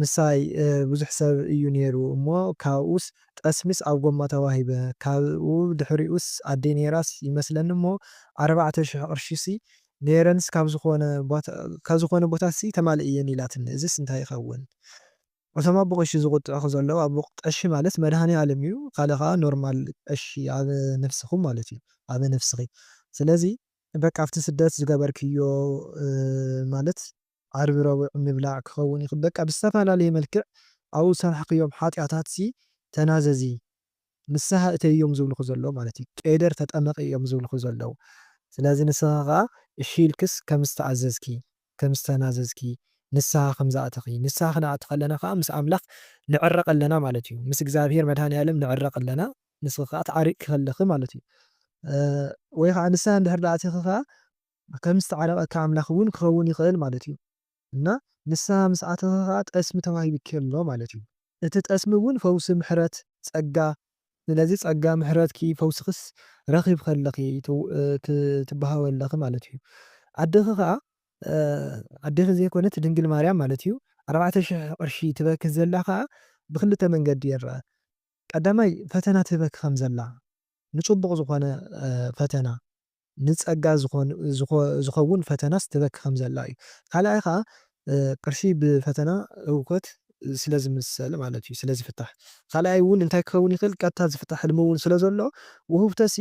ምሳይ ብዙሕ ሰብ እዩ ነይሩ እሞ ካብኡስ ጠስሚስ ኣብ ጎማ ተዋሂበ ካብኡ ድሕሪኡስ ኣደይ ነይራስ ይመስለኒ እሞ ኣርባዕተ ሽሕ ቅርሺሲ ነይረንስ ካብ ዝኾነ ዝኾነ ቦታሲ ተማሊእየን ኢላትኒ እዝስ እንታይ ይኸውን እቶም ኣቦ ቀሺ ዝቁጥዑኺ ዘለዉ ኣቦ ቀሺ ማለት መድሃኒኣለም እዩ ካልእ ከኣ ኖርማል ቀሺ ኣብ ነፍስኹም ማለት እዩ ኣብ ነፍስኺ ስለዚ በቃ ኣብቲ ስደት ዝገበርክዮ ማለት ዓርቢ ረቡዕ ምብላዕ ክኸውን ይኽእል በቃ ብዝተፈላለየ መልክዕ ኣብኡ ዝሰራሕኽዮም ሓጥያታትሲ ተናዘዚ ንስሃ እተዪ እዮም ዝብልኹ ዘለዉ ማለት እዩ ቄደር ተጠመቒ እዮም ዝብልኹ ዘለዉ ስለዚ ንስኺ ከኣ እሺ ኢልክስ ከም ዝተኣዘዝኪ ከም ዝተናዘዝኪ ንስሃ ከም ዝኣተኺ ንስሃ ክንኣቲ ከለና ከኣ ምስ ኣምላኽ ንዕረቕ ኣለና ማለት እዩ ምስ እግዚኣብሄር መድሃኒኣለም ንዕረቕ ኣለና ንስኺ ከኣ ተዓሪቕኪ ከለኺ ማለት እዩ ወይ ከኣ ንስሃ እንድሕር ኣቲኺ ከኣ ከም ዝተዓረቐካ ኣምላኽ እውን ክኸውን ይኽእል ማለት እዩ እና ንስሃ ምስ ኣተኻ ከኣ ጠስሚ ተዋሂብኪ ኣሎ ማለት እዩ። እቲ ጠስሚ እውን ፈውሲ ምሕረት ጸጋ። ስለዚ ጸጋ ምሕረትኪ ፈውስክስ ረኺብኺ ኣለኺ ትበሃዊ ኣለኺ ማለት እዩ። ኣደኺ ከኣ ኣዴኺ ዘይኮነት ድንግል ማርያም ማለት እዩ ኣርባዕተ ሽሕ ቅርሺ ትበኪ ዘላ ከኣ ብክልተ መንገዲ ይረኣ ቀዳማይ ፈተና ትህበኪ ከም ዘላ ንጽቡቕ ዝኾነ ፈተና ንጸጋ ዝኸውን ፈተናስ ትበኪ ከም ዘላ እዩ። ካልኣይ ከኣ ቅርሺ ብፈተና ህውከት ስለ ዝምሰል ማለት እዩ ስለ ዝፍታሕ። ካልኣይ እውን እንታይ ክኸውን ይኽእል ቀጥታ ዝፍታሕ ሕልሚ እውን ስለ ዘሎ ውህብቶሲ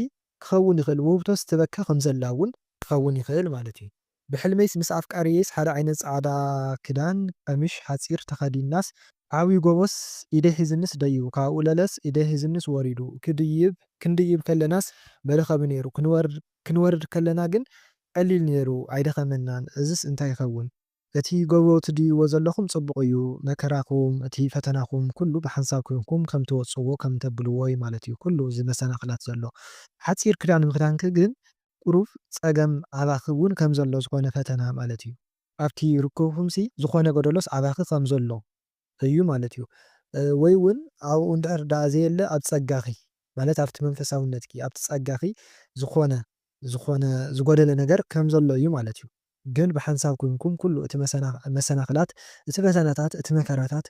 ክኸውን ይኽእል ውህብቶስ ትበኪ ከም ዘላ እውን ክኸውን ይኽእል ማለት እዩ። ብሕልመይስ ምስ ኣፍቃርየይስ ሓደ ዓይነት ጻዕዳ ክዳን ቀሚሽ ሓጺር ተኸዲንናስ ዓብዩ ጎቦስ ኢደይ ሒዙኒስ ደይቡ ካብኡ ለለስ ኢደይ ሒዙኒስ ወሪዱ ክድይብ ክንድይብ ከለናስ መደከቢ ነይሩ ክንወርድ ከለና ግን ቀሊል ነይሩ ኣይደኸመናን እዝስ እንታይ ይኸውን እቲ ጎቦ ትድይብዎ ዘለኹም ጽቡቕ እዩ መከራኹም እቲ ፈተናኹም ኩሉ ብሓንሳብ ኮንኩም ከም ትወጽዎ ከም ተብልዎ'ዩ ማለት'ዩ ኩሉ እዚ መሰናኽላት ዘሎ ሓጺር ክዳን ምኽዳንኪ ግን ቁሩብ ጸገም ኣባኺ ውን ከም ዘሎ ዝኾነ ፈተና ማለት እዩ። ኣብቲ ርክብኩምሲ ዝኾነ ጎደሎስ ኣባኺ ከም ዘሎ እዩ ማለት እዩ። ወይ ውን ኣብኡ እንድሕር ደኣ ዘየለ ኣብ ጸጋኺ ማለት ኣብቲ መንፈሳውነትኪ ኣብቲ ጸጋኺ ዝኾነ ዝኾነ ዝጎደለ ነገር ከም ዘሎ እዩ ማለት እዩ። ግን ብሓንሳብ ኮይንኩም ኩሉ እቲ መሰናኽላት፣ እቲ ፈተናታት፣ እቲ መከራታት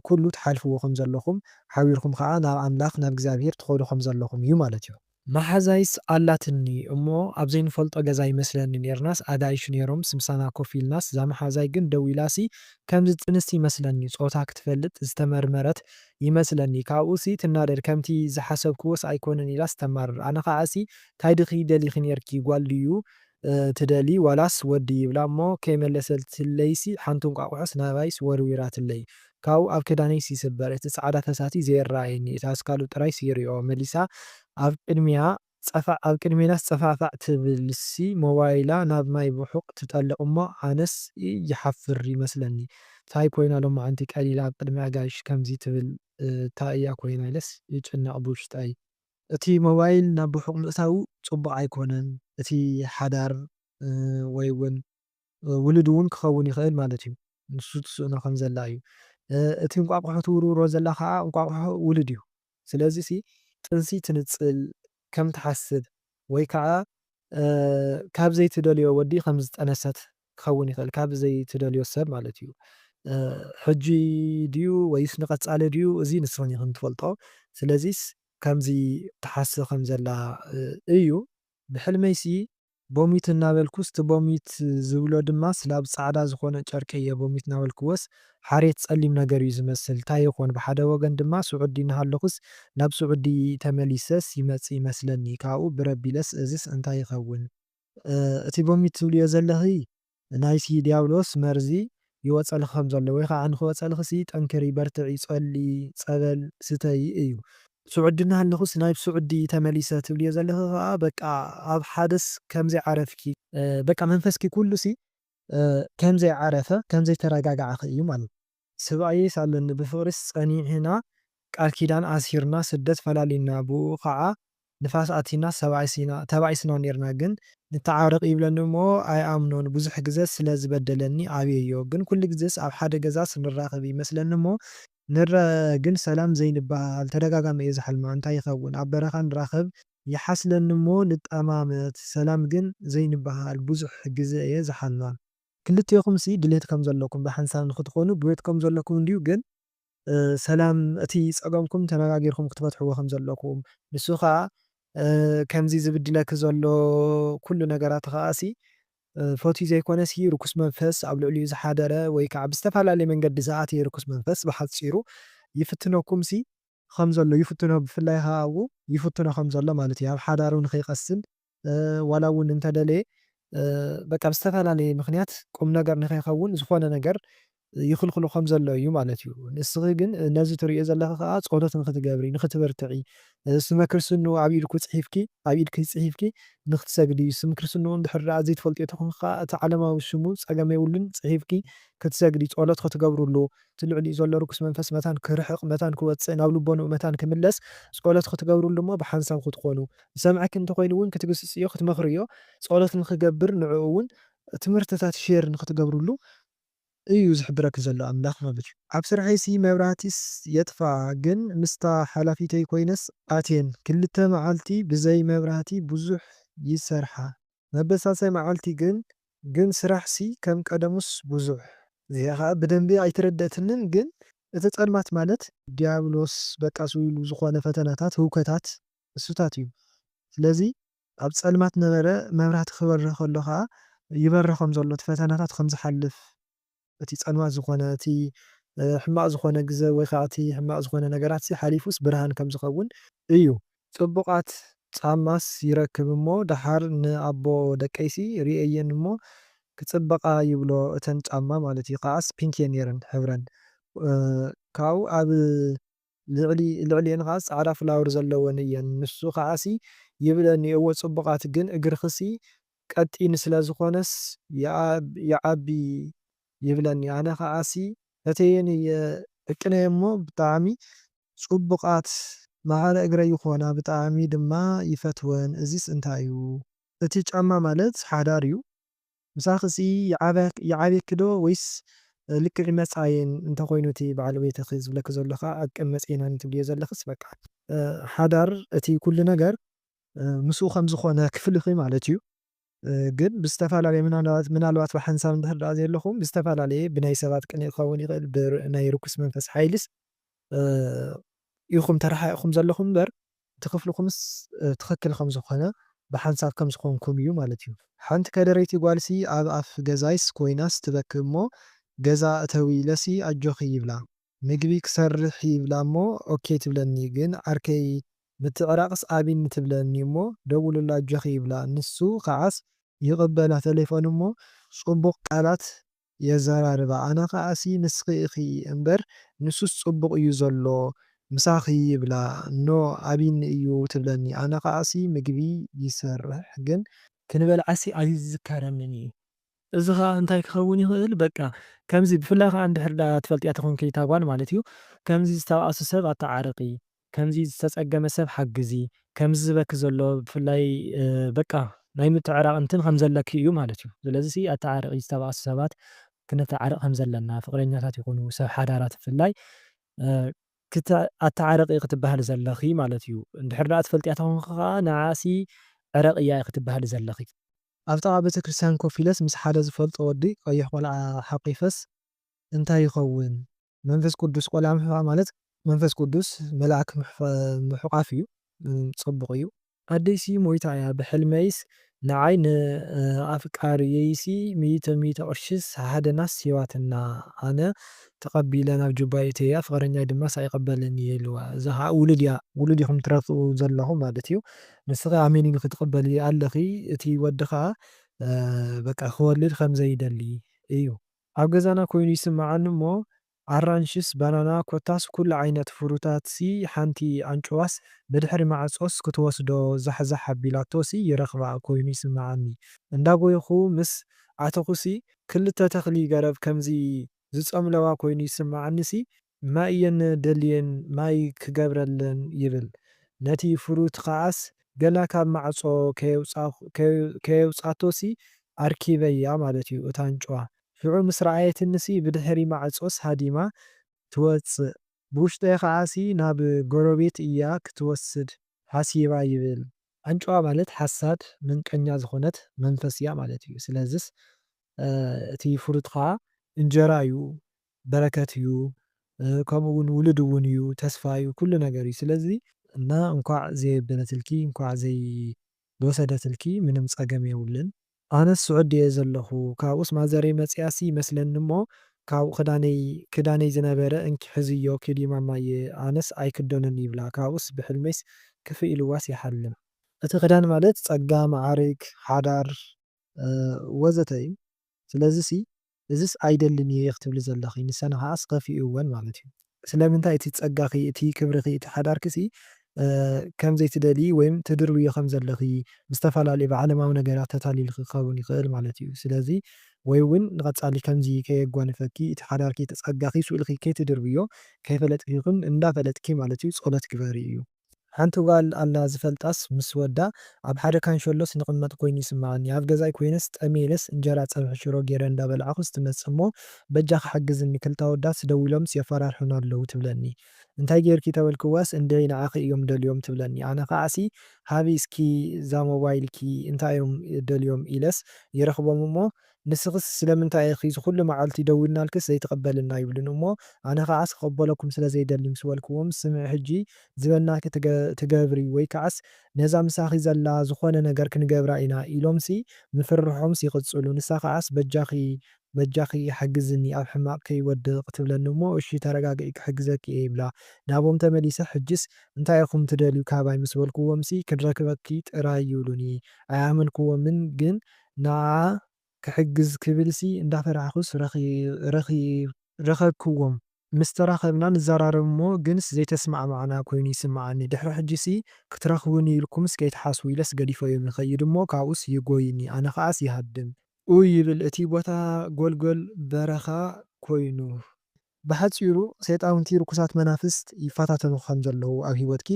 ኩሉ ትሓልፍዎ ከም ዘለኹም፣ ሓቢርኩም ከኣ ናብ ኣምላኽ ናብ እግዚኣብሄር ትኸዱ ከም ዘለኹም እዩ ማለት እዩ። መሓዛይስ ኣላትኒ እሞ ኣብ ዘይንፈልጦ ገዛ ይመስለኒ ኔርናስ ኣጋይሽ ኔሮምስ ምሳና ኮፍ ኢልናስ እዛ መሓዛይ ግን ደው ኢላሲ ከምዚ ጥንስቲ ይመስለኒ ጾታ ክትፈልጥ ዝተመርመረት ይመስለኒ ካብኡሲ ትናደድ ከምቲ ዝሓሰብክዎስ ኣይኮነን ኢላስ ተማርር ኣነ ከኣሲ ታይ ድኺ ደሊኺ ኔርኪ ጓል ድዩ ትደልዪ ዋላስ ወዲ ይብላ እሞ ከይመለሰትለይሲ ሓንቲ እንቋቑሖስ ናባይስ ወርዊራትለይ ካብኡ ኣብ ክዳነይስ ይስበር እቲ ጻዕዳ ፈሳሲ ዘየረኣየኒ እቲ ኣስካሉ ጥራይሲ ይሪኦ መሊሳ ኣብ ቅድሚያ ጸፋዕ ኣብ ቅድሜናስ ጸፋዕፋዕ ትብልሲ ሞባይላ ናብ ማይ ብሑቕ ትጠልቕ እሞ ኣነስ ይሓፍር ይመስለኒ ታይ ኮይና ሎማዓንቲ ቀሊላ ኣብ ቅድሚ ኣጋይሽ ከምዚ ትብል ታይ እያ ኮይና ኢለስ ይጭነቕ ብውሽጠይ። እቲ ሞባይል ናብ ርሑቕ ምእታዉ ጽቡቕ ኣይኮነን፣ እቲ ሓዳር ወይ ውን ውሉድ ውን ክኸውን ይኽእል ማለት እዩ፣ ንሱ ትስእኖ ከም ዘላ እዩ፣ እቲ እንቋቑሖ ትውርውሮ ዘላ ከኣ እንቋቑሖ ውሉድ እዩ፣ ስለዚ እቲ ጥንሲ ትንጽል ከም ትሓስብ ወይ ከኣ ካብ ዘይትደልዮ ወዲ ከም ዝጠነሰት ክኸውን ይኽእል ካብ ዘይትደልዮ ሰብ ማለት እዩ ሕጂ ድዩ ወይስ ንቀጻሊ ድዩ እዚ ንስኽን ኢኽን ትፈልጦ ስለዚስ ከምዚ ትሓስብ ከም ዘላ እዩ ብሕልመይሲ ቦሚት እናበልኩስ እቲ ቦሚት ዝብሎ ድማስ ላብ ጻዕዳ ዝኾነ ጨርቂ እየ ቦሚት ናበልክዎስ ሓሬት ጸሊም ነገር እዩ ዝመስል ታይ ይኾን ብሓደ ወገን ድማ ሱዑዲ እናሃለኹስ ናብ ሱዑዲ ተመሊሰስ ይመጽእ ይመስለኒ ካብኡ ብረቢለስ እዚስ እንታይ ይኸውን እቲ ቦሚት ትብልዮ ዘለኺ ናይቲ ድያብሎስ መርዚ ይወጸልኺ ከም ዘሎ ወይ ኻዓ ንኽወጸልኺሲ ጠንክሪ በርትዒ ጸልዪ ጸበል ስተዪ እዩ። ሱዑዲ እናሃለኹስ ናብ ሱዑዲ ተመሊሰ ትብልዮ ዘለኺ ኻዓ በቃ ኣብ ሓደስ ከም ዘይዓረፍኪ፣ በቃ መንፈስኪ ኩሉሲ ከም ዘይዓረፈ ከም ዘይተረጋጋዕኺ እዩ ማለት ስብኣየይስ ኣለኒ ብፍቅሪስ ጸኒዕና ቃል ኪዳን ኣሲርና ስደት ፈላሊና ብኡኡ ካኣ ንፋስ ኣቲና ሰብኣይስ ኢና ተባኢስና ኔርና ግን ንታዓረቅ ይብለኒ እሞ ኣይኣምኖን ብዙሕ ግዘ ስለ ዝበደለኒ ኣብየዮ ግን ኩሉ ግዘስ ኣብ ሓደ ገዛስ ንራከብ ይመስለኒ እሞ ንረኣ ግን ሰላም ዘይንባሃሃል ተደጋጋሚ እየ ዝሓልማ እንታይ ይከውን ኣብ በረካ ንራከብ ይሓስለኒ እሞ ንጠማመት ሰላም ግን ዘይንባሃሃል ብዙሕ ግዘ እየ ዝሓልማ። ክልቴኹምሲ ድሌት ከም ዘለኩም ብሓንሳብ ንኽትኾኑ ድሌት ከም ዘለኩም እንድዩ ግን ሰላም እቲ ጸገምኩም ተነጋጊርኩም ክትፈትሕዎ ከም ዘለኩም ንሱ ከኣ ከምዚ ዝብድለኪ ዘሎ ኩሉ ነገራት ከኣሲ ፈትዩ ዘይኮነሲ ርኩስ መንፈስ ኣብ ልዕሊኡ ዝሓደረ ወይ ከኣ ብዝተፈላለየ መንገዲ ዝኣተየ ርኩስ መንፈስ ብሓጺሩ ይፍትነኩምሲ ከም ዘሎ ይፍትኖ ብፍላይ ከኣ ኣብኡ ይፍትኖ ከም ዘሎ ማለት እዩ ኣብ ሓዳሩ ንኸይቀስን ዋላ እውን እንተደለየ በቃ ብዝተፈላለየ ምኽንያት ቁም ነገር ንከይኸውን ዝኾነ ነገር ይኽልክሎ ከም ዘሎ እዩ ማለት እዩ። ንስኺ ግን ነዚ ትርእዮ ዘለኺ ከኣ ጸሎት ንኽትገብሪ ንኽትብርትዒ ስመ ክርስትንኡ ኣብ ኢድኩ ጽሒፍኪ ኣብ ኢድኪ ጽሒፍኪ ንኽትሰግዲ እዩ። ስም ክርስትንኡ እንድሕር ደኣ ዘይትፈልጥዮ ተኾንኪ ከኣ እቲ ዓለማዊ ስሙ ጸገም የብሉን ጽሒፍኪ ክትሰግዲ ጸሎት ክትገብርሉ እቲ ልዕሊኡ ዘሎ ርኩስ መንፈስ መታን ክርሕቕ መታን ክወጽእ ናብ ልቦንኡ መታን ክምለስ ጸሎት ክትገብርሉ እሞ ብሓንሳብ ክትኮኑ ዝሰምዐኪ እንተኮይኑ እውን ክትግስጽዮ ክትመኽርዮ ጸሎት ንክገብር ንዕኡ እውን ትምህርትታት ሼር ንክትገብርሉ እዩ ዝሕብረኪ ዘሎ ኣምላኽ ማለት እዩ። ኣብ ስርሐይሲ መብራህቲስ የጥፍኣ ግን ምስታ ሓላፊተይ ኮይነስ ኣትየን ክልተ መዓልቲ ብዘይ መብራህቲ ብዙሕ ይሰርሓ። መበሳሳይ መዓልቲ ግን ግን ስራሕ ሲ ከም ቀደሙስ ቡዙሕ። እዚኣ ከኣ ብደንቢ ኣይተረደእትንን ግን እቲ ጸልማት ማለት። ድያብሎስ በቃ ስው ኢሉ ዝኮነ ፈተናታት ህውከታት እሱታት እዩ ስለዚ ኣብ ጸልማት ነበረ መብራህቲ ክበርህ ከሎ ከኣ ይበርህ ከም ዘሎ እቲ ፈተናታት ከም ዝሓልፍ። እቲ ጸልማት ዝኾነ እቲ ሕማቅ ዝኾነ ግዘ ወይ ከኣ እቲ ሕማቅ ዝኾነ ነገራትሲ ሓሊፉስ ብርሃን ከም ዝኸውን እዩ። ጽቡቃት ጻማስ ይረክብ እሞ ደሓር ን ኣቦ ደቀይሲ ሪኤየን እሞ ክጽብቃ ይብሎ እተን ጻማ ማለት እዩ ከኣስ ፒንክ እየን ኔረን ሕብረን ካኡ ኣብ ልዕሊ ልዕሊኤን ከኣ ጻዕዳ ፍላወር ዘለወን እየን ንሱ ከኣሲ ይብለኒ እወ ጽቡቃት ግን እግርክሲ ቀጢን ስለ ዝኮነስ ይዓቢ ይብለኒ ኣነ ከኣሲ ፈትየየን እየ ደቅነይ እሞ ብጣዕሚ ጽቡቃት ማዕረ እግረይ ይኮና ብጣዕሚ ድማ ይፈትወን እዚስ እንታይ እዩ። እቲ ጫማ ማለት ሓዳር እዩ ምሳኽሲ ይዓብየኪ ዶ ወይስ ልክዕ መጻየን እንተ ኮይኑ እቲ በዓል ቤትኺ ዝብለኪ ዘሎ ከኣ ዕቅን መጽየናን ትብልዮ ዘለኽስ በቃ። ሓዳር እቲ ኩሉ ነገር ምስኡ ከም ዝኾነ ክፍልኺ ማለት እዩ ግን ብዝተፈላለየ ምናልባት ብሓንሳብ እንድሕር ደኣ ዘየለኹም ብዝተፈላለየ ብናይ ሰባት ቅንኢ ክኸውን ይኽእል ብናይ ርኩስ መንፈስ ሓይልስ ኢኹም ተረሓሒቕኩም ዘለኹም እምበር እቲ ክፍልኹምስ ትኽክል ከም ዝኾነ ብሓንሳብ ከም ዝኾንኩም እዩ ማለት እዩ። ሓንቲ ከደረይቲ ጓልሲ ኣብ ኣፍ ገዛይስ ኮይናስ ትበኪ እሞ ገዛ እተዊ ኢለሲ ኣጆኺ ይብላ ምግቢ ክሰርሒ ይብላ እሞ ኦኬ ትብለኒ ግን ዓርከይ ምትዕራቕስ ኣብኒ ትብለኒ እሞ ደውልላ ኣጆኺ ይብላ ንሱ ኸዓስ ይቕበላ ተሌፎን እሞ ጽቡቕ ቃላት የዛራርባ ኣነ ከኣ ሲ ንስኪ ኢኪ እንበር ንሱስ ጽቡቅ እዩ ዘሎ ምሳኪ ይብላ እኖ ኣቢኒ እዩ ትብለኒ ኣነ ከኣ ሲ ምግቢ ይሰርሕ ግን ክንበልዓ ሲ ኣይዝካረንን እዩ እዚ ከኣ እንታይ ክከውን ይክእል በቃ ከምዚ ብፍላይ ከኣ እንድሕር ደኣ ትፈልጥያ ተኮንኪ እታ ጓል ማለት እዩ ከምዚ ዝተባኣሱ ሰብ ኣታዓርቂ ከምዚ ዝተጸገመ ሰብ ሓግዚ ከምዚ ዝበኪ ዘሎ ብፍላይ በቃ ናይ ምትዕራቅ እንትን ከምዘለኪ እዩ ማለት እዩ ስለዚሲ ኣታዓርቂ ዝተባኣሱ ሰባት ክነታዓርቅ ከምዘለና ፍቅረኛታት ይኩኑ ሰብ ሓዳራት ብፍላይ ክተ ኣታዓርቂ ኢኪ ትባሃሊ ዘለኪ ማለት እዩ እንድሕር ዳኣ ትፈልጥያ ተኮንኪ ካኣ ንዓኣሲ ዕረቅያ ኢኪ ትባሃሊ ዘለኪ። ኣብ ጥቓ ቤተክርስትያን ኮፍ ኢለስ ምስ ሓደ ዝፈልጦ ወዲ ቀይሕ ቆልዓ ሓቚፈስ እንታይ ይኸውን? መንፈስ ቅዱስ ቆልዓ ምሕቋፍ ማለት መንፈስ ቅዱስ መልኣክ ምሕቋፍ እዩ ጽቡቅ እዩ። ኣደይሲ ሞይታ እያ ብሕልመይስ ንዓይ ን ኣፍቃሪየይሲ ሚእቲ ሚእቲ ቅርሺስ ሃደናስ ሂባትና ኣነ ተቀቢለ ናብ ጁባይ እትያ ፍቅረኛይ ድማስ ኣይቅበልን እየ ኢልዋ እዛ ከኣ ውሉድ እያ ውሉድ ኢኩም ትረትኡ ዘለኩም ማለት እዩ ንስኪ ኣሜን ኢልኪ ትቅበሊ ኣለኪ እቲ ወዲ ከኣ በቃ ክወልድ ከምዘይደሊ እዩ ኣብ ገዛና ኮይኑ ይስምዓኒ እሞ ኣራንሽስ ባናና ኮታስ ኩሉ ዓይነት ፍሩታትሲ ሓንቲ ኣንጭዋስ ብድሕሪ ማዕጾስ ክትወስዶ ዛሕዛሕ ኣቢላቶሲ ይረኽባ ኮይኑ ይስምዓኒ እንዳ ጎየኹ ምስ ኣተኹሲ ክልተ ተኽሊ ገረብ ከምዚ ዝጸምለዋ ኮይኑ ይስምዓኒሲ ማይ እየን ደልየን ማይ ክገብረለን ይብል ነቲ ፍሩት ከኣስ ገና ካብ ማዕጾ ከየውጻቶሲ ኣርኪበያ ማለት እዩ እታ ኣንጭዋ ሽዑ ምስ ረኣየትኒሲ ብድሕሪ ማዕጾስ ሃዲማ ትወጽእ ብውሽጠይ ከኣሲ ናብ ጎረቤት እያ ክትወስድ ሓሲባ ይብል። ኣንጭዋ ማለት ሓሳድ ምንቀኛ ዝኾነት መንፈስ እያ ማለት እዩ ስለዝስ እቲ ፍሩት ከኣ እንጀራ እዩ በረከት እዩ ከምኡ ውን ውሉድ ውን እዩ ተስፋ እዩ ኩሉ ነገር እዩ ስለዚ። እና እንኳዕ ዘየበለትልኪ እንኳዕ ዘይወሰደትልኪ ምንም ፀገም የብሉን። ኣነስ ስዑዲ እየ ዘለኩ ካብኡስ ማዘረይ መፂኣሲ ይመስለኒ እሞ ካብኡ ክዳነይ ክዳነይ ዝነበረ እንኪ ሕዝዮ ኪዲ ማማየ ኣነስ ኣይክደኖን ይብላ ካብኡስ ብሕልመይስ ክፍእ ኢልዋስ ይሓልም። እቲ ክዳን ማለት ፀጋ፣ መዓርግ፣ ሓዳር ወዘተ እዩ ስለዚሲ እዝስ ኣይደልን እየ ክትብሊ ዘለኺ ንሰን ኸኣስ ከፊኡወን ማለት እዩ። ስለምንታይ እቲ ጸጋኺ እቲ ክብርኺ እቲ ሓዳርኪሲ ከም ዘይትደልዪ ወይም ትድርብዮ ከም ዘለኺ ብዝተፈላለዩ ብዓለማዊ ነገራት ተታሊልኺ ክኸውን ይኽእል ማለት እዩ ስለዚ ወይ ውን ንቐጻሊ ከምዚ ከየጓንፈኪ እቲ ሓዳርኪ እቲ ጸጋኺ ስእልኺ ከይትድርብዮ ከይፈለጥኪ ይኹን እንዳፈለጥኪ ማለት እዩ ጸሎት ግበሪ እዩ ሓንቲ ጓል ኣላ ዝፈልጣስ ምስ ወዳ ኣብ ሓደ ካንሸሎ ስንቕመጥ ኮይኑ ይስመዓኒ ኣብ ገዛይ ኮይነስ ጠምየ ኢለስ እንጀራ ጸብሒ ሽሮ ጌረ እንዳ በላዕኹስ ትመጽእ እሞ በጃኺ ሓግዝኒ ክልተ ኣወዳትስ ደዊሎምስ የፋራርሑኒ ኣለዉ ትብለኒ እንታይ ጌርኪ ተበልክዋስ እንድዒ ንዓኺ እዮም ደልዮም ትብለኒ ኣነ ከዓሲ ሃቢ እስኪ እዛ ሞባይልኪ እንታይ እዮም ደልዮም ኢለስ ይረኽቦም እሞ ንስኽስ ስለምንታይ ኢኺ ዝኹሉ መዓልቲ ደዊልናልክስ ዘይትቕበልልና ይብሉኒ እሞ ኣነ ከዓስ ክቕበለኩም ስለ ዘይደሊ ምስ በልክዎም ስምዒ ሕጂ ዝበልናኪ ትገብሪ ወይ ከዓስ ነዛ ምሳኺ ዘላ ዝኾነ ነገር ክንገብራ ኢና ኢሎምሲ ምፍርርሖምስ ይቕጽሉ ንሳ ከዓስ በጃኺ በጃኺ ሓግዝኒ ኣብ ሕማቕ ከይወድቕ ትብለኒ እሞ እሺ ተረጋግዒ ክሕግዘኪ እየ ይብላ ናቦም ተመሊሰ ሕጂስ እንታይ ኢኹም ትደልዩ ካባይ ምስ በልክዎምሲ ክንረክበኪ ጥራይ ይብሉኒ ኣይኣመንክዎምን ግን ንዓኣ ክሕግዝ ክብልሲ እንዳፈራሕኩስ ረኸብክዎም። ምስ ተራኸብና ንዘራረብ እሞ ግንስ ዘይተስማዕማዕና ኮይኑ ይስምዓኒ። ድሕሪ ሕጂሲ ክትረኽቡኒ ኢልኩምስ ከይትሓስቡ ኢለስ ገዲፈዮም ይኸይድ እሞ ካብኡስ ይጎዩኒ ኣነ ከኣስ ይሃድም። ኡይ ይብል እቲ ቦታ ጎልጎል በረኻ ኮይኑ። ብሓጺሩ ሰይጣውንቲ ርኩሳት መናፍስት ይፈታተኑኺ ከም ዘለዉ ኣብ ህይወትኪ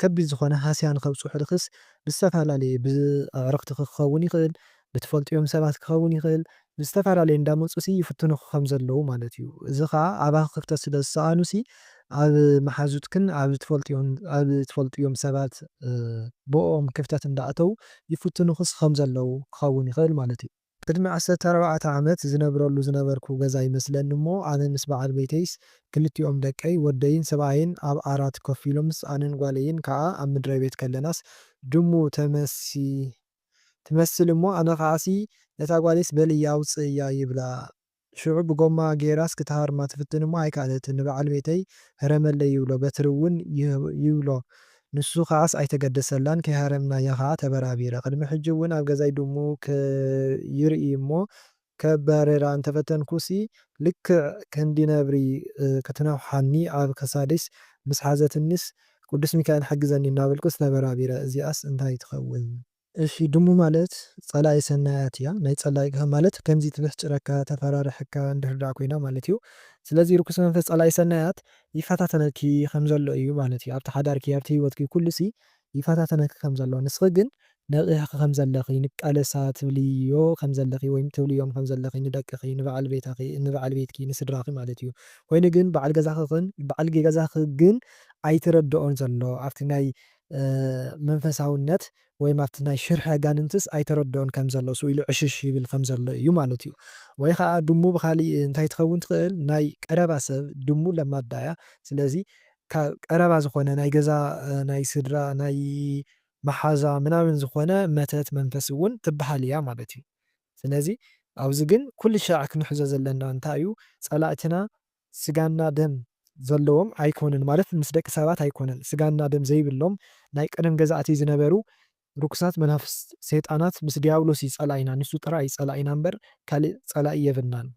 ከቢድ ዝኾነ ሃስያ ንኸብጽሑልኽስ ብዝተፈላለየ ብኣዕርኽትኺ ክኸውን ይኽእል ብትፈልጥዮም ሰባት ክኸውን ይኽእል ብዝተፈላለየ እንዳመጹሲ ይፍትኑኺ ከም ዘለዉ ማለት እዩ እዚ ከኣ ኣባኺ ክፍተት ስለ ዝሰኣኑሲ ኣብ መሓዙትክን ኣብ ትፈልጥዮን ኣብ ትፈልጥዮም ሰባት ብእኦም ክፍተት እንዳኣተዉ ይፍትኑኺስ ከም ዘለዉ ክኸውን ይኽእል ማለት እዩ። ቅድሚ ዓሰርተ ኣርባዕተ ዓመት ዝነብረሉ ዝነበርኩ ገዛ ይመስለኒ እሞ ኣነ ምስ በዓል ቤተይስ ክልቲኦም ደቀይ ወደይን ሰብኣየይን ኣብ ዓራት ኮፍ ኢሎምስ ኣነን ጓለይን ከኣ ኣብ ምድረቤት ከለናስ ድሙ ተመሲላ ትመስል እሞ ኣነ ከኣሲ ነታ ጓለይስ በልያ ኣውጽእያ ይብላ ሽዑ ብጎማ ገይራስ ክትሃርማ ትፍትን እሞ ኣይከኣለትን። ንበዓል ቤተይ ህረመለይ ይብሎ፣ በትሪ እውን ይብሎ። ንሱ ከኣስ ኣይተገደሰላን፣ ከይሃረምናያ ከኣ ተበራቢረ። ቅድሚ ሕጂ እውን ኣብ ገዛይ ድሙ ከይርኢ እሞ ከባርራ እንተፈተንኩሲ ልክዕ ክንዲ ነብሪ ክትነኽሓኒ ኣብ ክሳደይስ ምስ ሓዘትኒስ ቅዱስ ሚካኤል ሓግዘኒ እናበልኩስ ተበራቢረ። እዚኣስ እንታይ ትኸውን? እሺ ድሙ ማለት ጸላኢ ሰናያት እያ ናይ ጸላኢካ ማለት ከምዚ ትብሕጭረካ ተፈራርሐካ እንድህር ደኣ ኮይና ማለት እዩ ስለዚ ርኩስ መንፈስ ጸላኢ ሰናያት ይፈታተነኪ ከም ዘሎ እዩ ማለት እዩ ኣብቲ ሓዳርኪ ኣብቲ ሂወትኪ ኩሉሲ ይፈታተነኪ ከም ዘሎ ንስኺ ግን ነቒሕኺ ከም ዘለኺ ንቃለሳ ትብልዮ ከም ዘለኺ ወይም ትብልዮም ከም ዘለኺ ንደቅኺ ንበዓል ቤታኺ ንበዓል ቤትኪ ንስድራኺ ማለት እዩ ኮይኑ ግን በዓል ገዛኺ ግን በዓል ገዛኺ ግን ኣይትረድኦን ዘሎ ኣብቲ ናይ መንፈሳውነት ወይ ኣብቲ ናይ ሽርሒ ኣጋንንትስ ኣይተረድኦን ከም ዘሎ ስኡ ኢሉ ዕሽሽ ይብል ከም ዘሎ እዩ ማለት እዩ። ወይ ኸኣ ድሙ ብኻሊእ እንታይ ትኸውን ትኽእል ናይ ቀረባ ሰብ ድሙ ለማዳ እያ ስለዚ ካብ ቀረባ ዝኾነ ናይ ገዛ ናይ ስድራ ናይ መሓዛ ምናምን ዝኾነ መተት መንፈስ እውን ትብሃል እያ ማለት እዩ። ስለዚ ኣብዚ ግን ኩልሻዕ ክንሕዞ ዘለና እንታይ እዩ ጸላእትና ስጋና ደም ዘለዎም ኣይኮኑን ማለት ምስ ደቂ ሰባት ኣይኮነን ስጋና ደም ዘይብሎም ናይ ቀደም ገዛእቲ ዝነበሩ ርኩሳት መናፍስት ሰይጣናት ምስ ድያብሎስ እዩ ጸላኢና ንሱ ጥራይ እዩ ጸላኢና እምበር ካልእ ጸላኢ የብልናን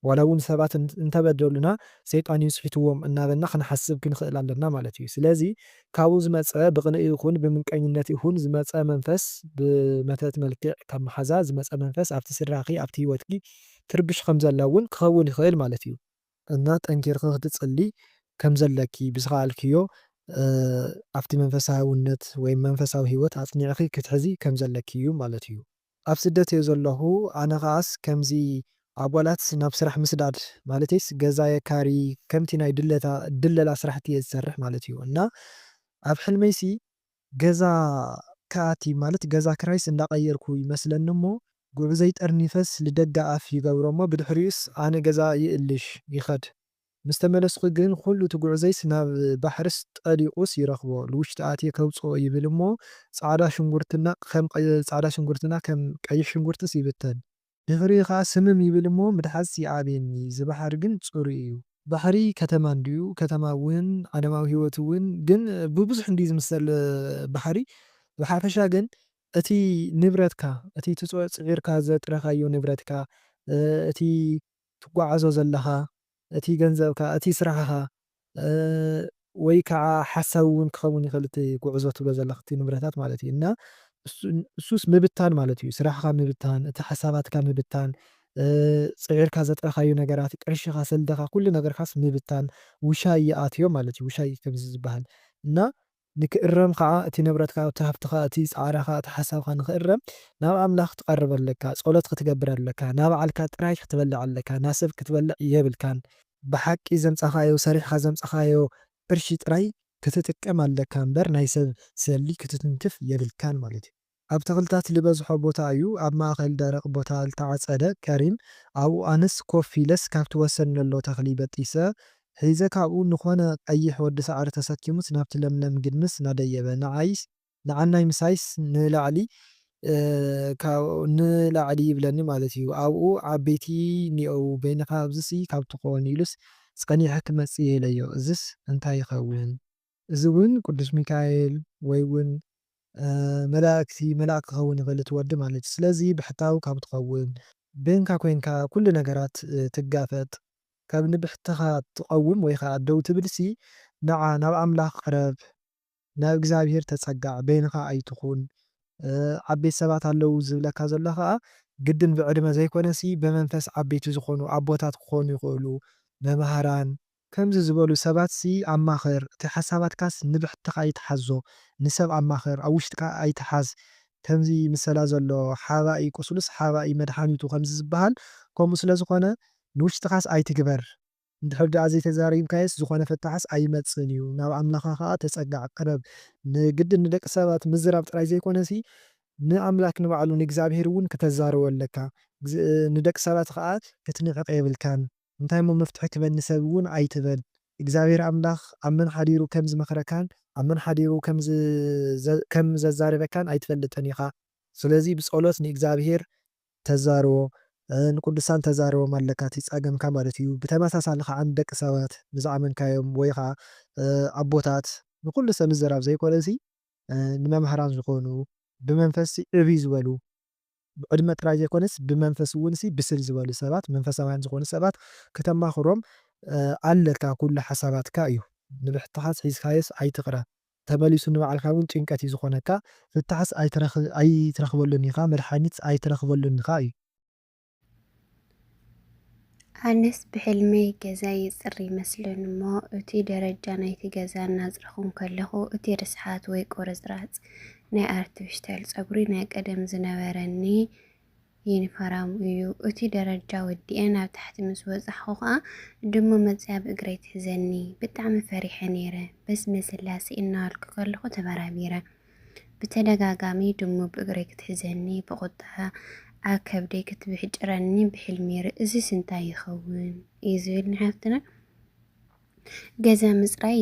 ዋላ ውን ሰባት እንተበደሉና ሰይጣን እዩ ስሒትዎም እናበልና ክንሓስብ ክንኽእል ኣለና ማለት እዩ ስለዚ ካብኡ ዝመጸ ብቕንኢ ይኹን ብምንቀኝነት ይኹን ዝመጸ መንፈስ ብመተት መልክዕ ካብ መሓዛ ዝመጸ መንፈስ ኣብቲ ስድራኺ ኣብቲ ሂወትኪ ትርብሽ ከም ዘላ እውን ክኸውን ይኽእል ማለት እዩ። እና ጠንኪርኺ ክትጽልዪ ከም ዘለኪ ብዝኸኣልክዮ ኣብቲ መንፈሳውነት ወይም መንፈሳዊ ህይወት ኣጽኒዕኺ ክትሕዚ ከም ዘለኪ እዩ ማለት እዩ። ኣብ ስደት እየ ዘለኹ ኣነ ከኣስ ከምዚ ኣጓላት ናብ ስራሕ ምስዳድ ማለተይስ ገዛ የካርዪ ከምቲ ናይ ድለታ ድለላ ስራሕቲ እየ ዝሰርሕ ማለት እዩ እና ኣብ ሕልመይሲ ገዛ ክኣቲ ማለት ገዛ ክራይስ እንዳቐየርኩ ይመስለኒ እሞ ጉዕዞይ ጠርኒፈስ ልደገ ኣፍ ይገብሮ እሞ ብድሕሪኡስ ኣነ ገዛ ይእልሽ ይኸድ ምስ ተመለስኩ ግን ኹሉ እቲ ጉዕዞይስ ናብ ባሕርስ ጠሊቑስ ይረኽቦ ልውሽጢ ኣትየ ከውጽኦ ይብል እሞ ጻዕዳ ሽንጉርትና ከም ጻዕዳ ሽንጉርትና ከም ቀይሕ ሽንጉርትስ ይብተን ድሕሪኡ ከኣ ስምም ይብል እሞ ምድሓጽ ይኣብየኒ ዝባሕር ግን ጽሩይ እዩ። ባሕሪ ከተማ እንድዩ ከተማ እውን ዓለማዊ ህይወት እውን ግን ብብዙሕ እንድዩ ዝምሰል ባሕሪ ብሓፈሻ ግን እቲ ንብረትካ እቲ ትጽዕርካ ዘጥረካዮ ንብረትካ እቲ ትጓዓዞ ዘለኻ እቲ ገንዘብካ፣ እቲ ስራሕኻ ወይ ካዓ ሓሳዊ ውን ክኸውን ይኽእል እቲ ጉዕዞ ትብሎ ዘለኽ እቲ ንብረታት ማለት እዩ እና እሱስ ምብታን ማለት እዩ ስራሕኻ ምብታን እቲ ሓሳባትካ ምብታን ፅዒርካ ዘጥረኻዮ ነገራት ቅርሽኻ ሰልድኻ ኩሉ ነገርካስ ምብታን ውሻይ ይኣትዮ ማለት እዩ ውሻይ ከምዚ ዝበሃል እና ንክእረም ኸኣ እቲ ንብረትካ እቲ ሃብትኻ እቲ ጻዕራኻ እቲ ሓሳብኻ ንክእረም ናብ ኣምላኽ ክትቀርብ ኣለካ ጾሎት ክትገብር ኣለካ ናባዕልካ ጥራይ ክትበልዕ ኣለካ ናሰብ ክትበልዕ የብልካን ብሓቂ ዘምጻኻዮ ሰሪሕኻ ዘምጻኻዮ ቅርሺ ጥራይ ክትጥቀም ኣለካ እምበር ናይ ሰብ ሰሊ ክትትንክፍ የብልካን ማለት እዩ። ኣብ ተኽልታት ልበዝሖ ቦታ እዩ ኣብ ማእኸል ደረቕ ቦታ ልተዓፀደ ከሪም ኣብኡ ኣነስ ኮፍ ኢለስ ካብቲ ወሰን ለሎ ተኽሊ በጢሰ ሒዘ ካብኡ ንኾነ ቀይሕ ወዲ ሳዕሪ ተሰኪሙስ ናብቲ ለምለም ግድምስ ናደየበ ንዓይስ ንዓናይ ምሳይስ ንላዕሊ ካብኡ ንላዕሊ ይብለኒ ማለት እዩ ኣብኡ ዓበይቲ ኒኦዉ በይንኻ ኣብዚሲ ካብቲ ኮን ኢሉስ ፀኒሐ ክመፅእ እየ ኢለዮ እዝስ እንታይ ይኸውን እዚ እውን ቅዱስ ሚካኤል ወይ እውን መላእክቲ መልኣክ ክኸውን ይኽእል እቲ ወዲ ማለት እዩ ስለዚ ብሕታዊ ካብ ትኸውን በይንካ ኮይንካ ኩሉ ነገራት ትጋፈጥ ካብ ንብሕትኻ ትቐውም ወይ ኸዓ ደው ትብልሲ ንዓ ናብ ኣምላኽ ቅረብ ናብ እግዚኣብሔር ተጸጋዕ በይንኻ ኣይትኹን ዓበይቲ ሰባት ኣለዉ ዝብለካ ዘሎ ኸዓ ግድን ብዕድመ ዘይኮነሲ ብመንፈስ ዓበይቲ ዝኾኑ ኣቦታት ክኾኑ ይኽእሉ መማህራን ከምዚ ዝበሉ ሰባትሲ ኣማኽር፣ እቲ ሓሳባትካስ ንብሕትኻ ኣይትሓዞ፣ ንሰብ ኣማኽር፣ ኣብ ውሽጥካ ኣይትሓዝ፣ ከምዚ ምሰላ ዘሎ ሓባኢ ቁስሉስ ሓባኢ መድሓኒቱ ከምዚ ዝበሃል ከምኡ ስለ ዝኾነ ንውሽጥኻስ ኣይትግበር፣ እንድሕር ደኣ ዘይተዛሪብካዮስ ዝኾነ ፍታሕስ ኣይመጽእን እዩ፣ ናብ ኣምላኻ ከኣ ተጸጋዕ፣ ቅረብ፣ ንግድን ንደቂ ሰባት ምዝራብ ጥራይ ዘይኮነሲ ንኣምላክ ንባዕሉ ንእግዚኣብሄር እውን ክተዛርቦ ኣለካ፣ ንደቂ ሰባት ከኣ ክትንዕቅ የብልካን። እንታይ እሞ መፍትሒ ክበል ንሰብ እውን ኣይትበል እግዚኣብሔር ኣምላክ ኣብ መን ሓዲሩ ከም ዝመክረካን ኣብ መን ሓዲሩ ከም ዘዛርበካን ኣይትፈልጥን ኢካ ስለዚ ብፆሎት ንእግዚኣብሔር ተዛርቦ ንቅዱሳን ተዛርቦም ኣለካ እቲ ፃገምካ ማለት እዩ ብተመሳሳሊ ከዓ ንደቂ ሰባት ንዝኣመንካዮም ወይ ከዓ ኣቦታት ንኩሉ ሰብ ምዝራብ ዘይኮነሲ ንመማህራን ዝኮኑ ብመንፈስ ዕብይ ዝበሉ ብዕድመ ጥራይ ዘይኮነስ ብመንፈስ እውንሲ ብስል ዝበሉ ሰባት መንፈሳውያን ዝኾኑ ሰባት ክተማኽሮም ኣለካ ኩሉ ሓሳባትካ እዩ ንብሕታሓስ ሒዝካዮስ ኣይትቕረ ተመሊሱ ንባዕልካ እውን ጭንቀት እዩ ዝኾነካ ፍታሕስ ኣይትረኽበሉን ኢኻ መድሓኒትስ ኣይትረኽበሉን ኢኻ እዩ ኣነስ ብሕልመይ ገዛ ይጽሪ ይመስልን እሞ እቲ ደረጃ ናይቲ ገዛ እናጽረኹ ከለኹ እቲ ርስሓት ወይ ቁርጽራጽ ናይ ኣርቲፊሻል ጸጉሪ ናይ ቀደም ዝነበረኒ ዩኒፎርም እዩ። እቲ ደረጃ ወዲኤ ናብ ታሕቲ ምስ በጻሕኩ ከኣ ድሙ መጽያ ኣብ እግረይ ትሕዘኒ። ብጣዕሚ ፈሪሐ ነይረ። በስመ ስላሴ እናበልኩ ከለኹ ተበራቢረ። ብተደጋጋሚ ድሙ ብእግረይ ክትሕዘኒ፣ ብቑጥዐ ኣብ ከብደይ ክትብሕጭረኒ ብሕልሚ ይርኢ። እዚስ እንታይ ይኸውን እዩ ዝብል ንሓፍትና ገዛ ምፅራይ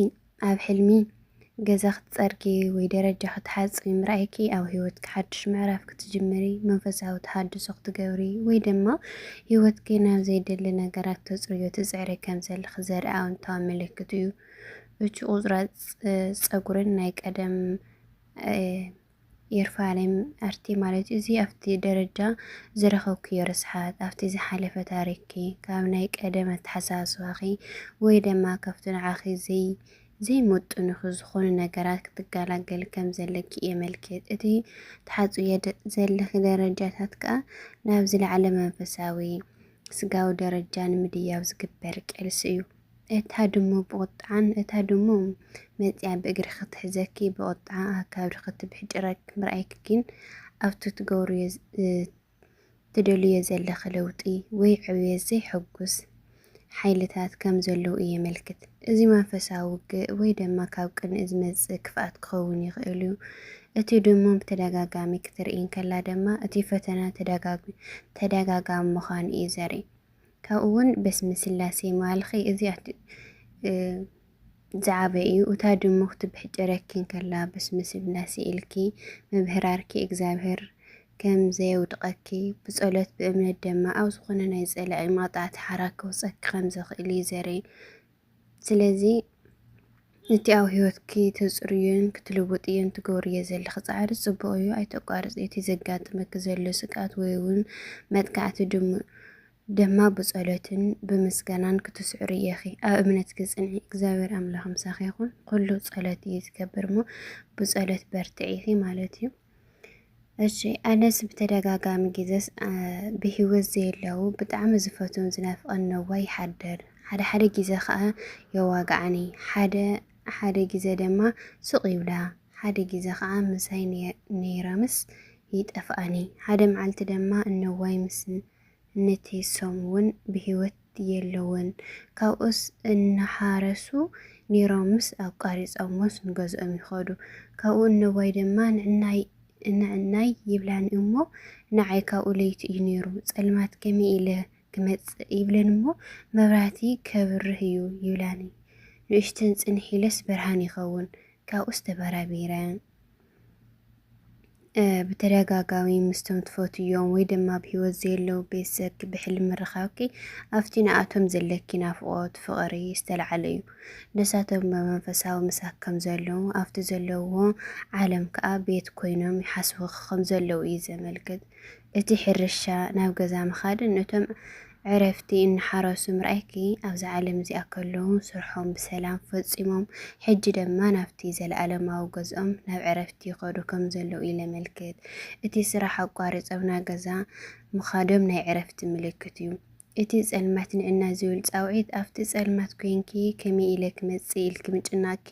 ኣብ ሕልሚ ገዛ ክትፀርጊ ወይ ደረጃ ክትሓፂ ምርኣይኪ ኣብ ሂወትኪ ሓድሽ ምዕራፍ ክትጅምሪ መንፈሳዊ ተሃድሶ ክትገብሪ ወይ ድማ ሂወትኪ ናብ ዘይደሊ ነገራት ተፅርዮ ትፅዕሪ ከም ዘለኺ ዘርኢ ኣወንታዊ ምልክት እዩ። እቲ ቁርጽራጽ ጸጉርን ናይ ቀደም የርፋሌም ኣርቲ ማለት እዚ ኣብቲ ደረጃ ዝረኸብክዮ ርስሓት ኣብቲ ዝሓለፈ ታሪክኪ ካብ ናይ ቀደም ኣተሓሳስባኺ ወይ ደማ ካብቲ ንዓኺ ዘይ ዘይመጥኑኺ ዝኾኑ ነገራት ክትገላገሊ ከም ዘለኪ የመልክት። እቲ ትሓጽብዮ ዘለኺ ደረጃታት ከኣ ናብ ዝለዓለ መንፈሳዊ ስጋዊ ደረጃ ንምድያብ ዝግበር ቄልሲ እዩ። እታ ድሙ ብቑጥዓን እታ ድሙ መጺኣ ብእግሪ ክትሕዘኪ ብቑጥዓ ኣብ ካብሪ ክትብሕጭረኪ ምርኣይኪ ግን ኣብቲ ትገብርዮ ትደልዮ ዘለኺ ለውጢ ወይ ዕብየት ዘይሕጉስ ሓይልታት ከም ዘለዉ እዩ የመልክት። እዚ መንፈሳዊ ውግእ ወይ ድማ ካብ ቅንኢ ዝመጽእ ክፍኣት ክኸውን ይኽእል እዩ። እቲ ድሙ ብተደጋጋሚ ክትርኢ እንከላ ድማ እቲ ፈተና ተደጋጋሚ ምዃኑ እዩ ዘርኢ። ካብኡ ውን በስመ ስላሴ ማልኺ እዚ ዝዓበ እዩ እታ ድሙ ክትብሕጭረኪ እንከላ በስመ ስላሴ ኢልኪ ምብህራርኪ እግዚኣብሔር ከም ዘየውድቐኪ ብጸሎት ብእምነት ደማ ኣብ ዝኾነ ናይ ጸላኢ መቕጻዕቲ ሓራ ከውጸኪ ከም ዘኽእል እዩ ዘርኢ ስለዚ እቲ ኣብ ህይወትኪ ተጽርዮን ክትልውጥዮን ትገብርዮ ዘለኺ ጻዕሪ ጽቡቕ እዩ፣ ኣይተቋርጽዮ። እቲ ዘጋጥመኪ ዘሎ ስግኣት ወይ ውን መጥቃዕቲ ድም ደማ ብጸሎትን ብምስጋናን ክትስዕርዮ ኢኺ። ኣብ እምነትኪ ጽንዒ፣ እግዚኣብሔር ኣምላኽ ምሳኺ ይኹን። ኩሉ ጸሎት እዩ ዝገብር እሞ ብጸሎት በርትዒ ኢኺ ማለት እዩ። እሺ ኣነስ ብተደጋጋሚ ግዜስ ብሂወት ዘየለዉ ብጣዕሚ ዝፈትዎን ዝናፍቀን ነዋ ይሓድር ሓደ ሓደ ግዜ ከዓ የዋግዓኒ ሓደ ሓደ ግዜ ድማ ስቅ ይብላ ሓደ ግዜ ከዓ ምሳይ ነይረምስ ይጠፍኣኒ ሓደ መዓልቲ ድማ እነዋይ ምስ እነተይሶም እውን ብሂወት የለውን ካብኡስ እናሓረሱ ኔሮምስ ኣቋሪጾሞስ ንገዝኦም ይኸዱ ካብኡ እነቦይ ድማ ንዕናይ ንዕናይ ይብላኒ እሞ ንዓይ ካብኡ ለይቲ እዩ ኔሩ ጸልማት ከመይ ኢለ ክመጽእ ይብለኒ እሞ መብራህቲ ከብርህ እዩ ይብላኒ ንእሽተን ጽንሕ ኢለስ ብርሃን ይኸውን ካብኡስ ተበራቢረ ብተደጋጋሚ ምስቶም ትፈትዮም ወይ ድማ ኣብ ሂወት ዘየለዉ ቤተሰብኪ ብሕልሚ ምርኻብኪ ኣብቲ ንኣቶም ዘለኪ ናፍቖት ፍቕሪ ዝተልዓለ እዩ። ንሳቶም ብመንፈሳዊ ምሳኪ ከም ዘለዉ ኣብቲ ዘለዉዎ ዓለም ከኣ ቤት ኮይኖም ይሓስቡኺ ከም ዘለዉ እዩ ዘመልክት። እቲ ሕርሻ ናብ ገዛ ምኻድን እቶም ዕረፍቲ እናሓረሱ ምርኣይኪ ኣብዛ ዓለም እዚኣ ከለዉ ስርሖም ብሰላም ፈጺሞም ሕጂ ደማ ናብቲ ዘለኣለማዊ ገዝኦም ናብ ዕረፍቲ ይኸዱ ከም ዘለዉ ኢለመልክት እቲ ስራሕ ኣቋሪጾም ናገዛ ምኻዶም ናይ ዕረፍቲ ምልክት እዩ እቲ ጸልማት ንዕና ዝብል ጻውዒት ኣብቲ ጸልማት ኮይንኪ ከመይ ኢለ ክመጽእ ኢልኪ ምጭናቕኪ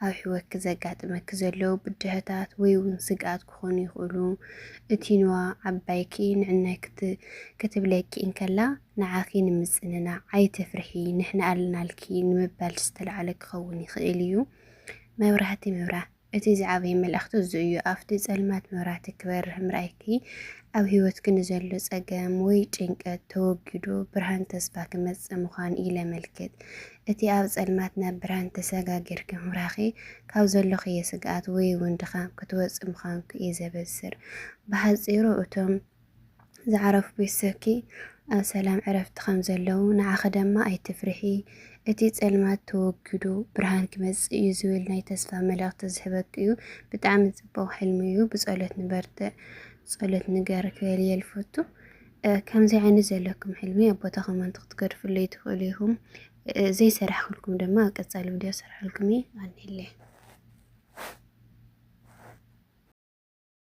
ኣብ ሕይወትኪ ዘጋጥመኪ ዘለዉ ብድሆታት ወይ እውን ስግኣት ክኾኑ ይኽእሉ። እቲ ኑዋ ዓባይኪ ንዕናይ ክትብለኪ እንከላ ንዓኺ ንምጽንናዕ ኣይትፍርሒ ንሕና ኣለናልኪ ንምባል ዝተላዕለ ክኸውን ይኽእል እዩ። መብራህቲ ምብራህ። እቲ ዝዓበየ መልእኽቲ እዚ እዩ፣ ኣብቲ ጸልማት መብራህቲ ክበርህ ምርኣይኪ፣ ኣብ ህይወትኪ ንዘሎ ጸገም ወይ ጭንቀት ተወጊዱ ብርሃን ተስፋ ክመጽእ ምዃኑ ኢለመልክት። እቲ ኣብ ጸልማት ናብ ብርሃን ተሰጋጊርኪ ምብራህኪ፣ ካብ ዘሎክዮ ስግኣት ወይ'ውን ድኻም ክትወጽኢ ምዃንኪ እዩ ዘበስር። ብሓጺሩ እቶም። ዝዓረፉ ቤተሰብኪ ኣብ ሰላም ዕረፍቲ ከም ዘለዉ ንዓኺ ደማ ኣይትፍርሒ እቲ ጸልማት ተወጊዱ ብርሃን ክመጽእ እዩ ዝብል ናይ ተስፋ መልእኽቲ ዝህበኪ እዩ። ብጣዕሚ ጽቡቕ ሕልሚ እዩ። ብጸሎት ንበርትዕ ጸሎት ንገር ክበል እየ ልፈቱ። ከምዚ ዓይነት ዘለኩም ሕልሚ ኣብ ቦታ ኮመንት ክትገድፍለይ ትኽእሉ ኢኹም። ዘይሰራሕኩልኩም ድማ ኣብ ቀጻሊ ቪድዮ ሰራሕልኩም እየ። ኣንለ